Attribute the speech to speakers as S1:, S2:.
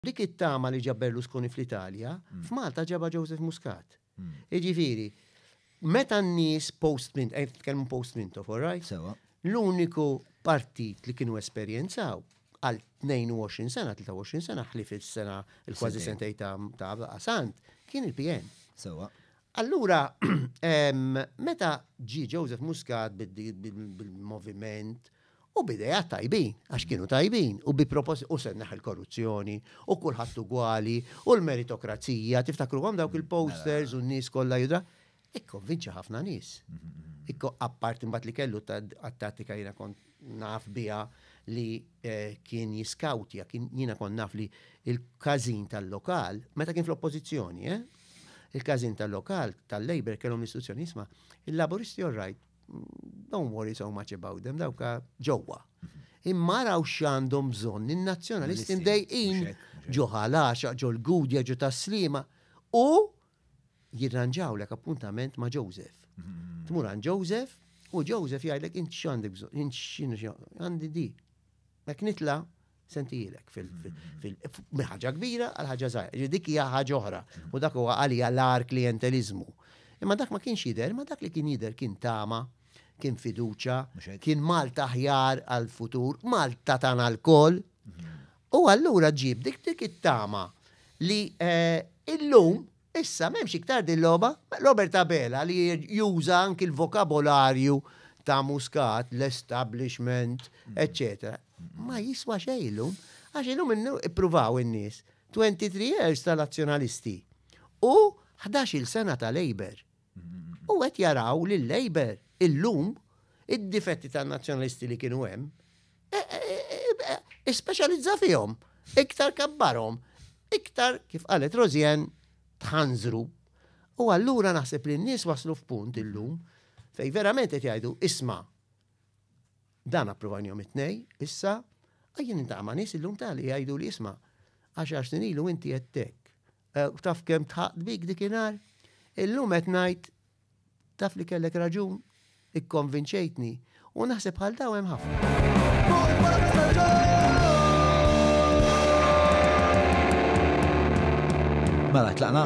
S1: Dik it-tama li ġab Berlusconi fl-Italja, f'Malta ġabha Joseph Muscat. Jiġifieri, meta n-nies post mint, qed nitkellmu post mintof, all right? Sewa. L-uniku partit li kienu esperjenzaw għal 22 sena, 23 sena, ħlif is-sena il-kważi Sentejn. sentej ta' ta' Asant, kien il-PN. Sewa. Allura, em, meta ġi Joseph Muscat bid- bil- bil-moviment, U b'ideat tajbin, għax kienu tajbin, u bi proposti, u se nneħħi l-korruzzjoni, u kulħadd ugwali, u l-meritokrazija, tiftakruhom dawk il-posters u n-nies kollha judra? Ikkonvinċa ħafna nies. Apparti mbagħad li kellu għat-tattika jiena kont naf biha li eh, kien jiskawtja, kien jiena kon naf li il-kazin tal-lokal, meta kien fl-oppozizjoni, eh? il-kazin tal-lokal tal-Labor kellhom l-istituzzjoni jisma, il-Laboristi all right, don't worry so much about them, dawka ġewwa. Imma raw x'għandhom bżonn in-nazzjonalisti mdejqin ġo ħalaxa, ġo l-gudja, ġo taslima u jirranġawlek appuntament ma' Joseph. Mm-hmm. Tmur għand Joseph u Joseph jgħidlek int x'għandek bżonn, int x'inhu għandi di. Mek nitla' Sentijilek minn ħaġa kbira għal ħaġa żgħira. Dik hija ħaġa oħra u dak huwa għalija l-ar klientelizmu. Imma dak ma kienx jidher, imma dak li kien jidher kien tama, kien fiduċa, kien Malta aħjar għal futur, Malta tagħna l-koll. Mhm. U allura ġib dik dik it-tama li eh, illum Issa m'hemmx iktar din logħba? Robert Abela li juża anki l-vokabolarju ta' Muscat, l-establishment, eċċetera, ma jiswa xejn illum għax illum innu ippruvaw in-nies 23 years tal-Azzjonalisti u ħdax-il sena ta' Labour. U qed jaraw li l-Labour illum id-difetti tan-Nazzjonalisti li kienu hemm e, e, e, ispeċjalizza fihom, iktar kabbarhom, iktar kif qalet Rosien tħanżru. U allura naħseb li n-nies waslu f'punt illum fej verament qed jgħidu isma' dan approvajnihom it-tnej, issa għajjin intaqma nies illum tali jgħidu li isma' għax snin ilu inti jettek Eh, taf kem tħaqt bik dikinar? Illum qed ngħid taf li kellek raġun ikkonvinċejtni u naħseb bħal daw hemm ħafna.
S2: Mela, tlaqna?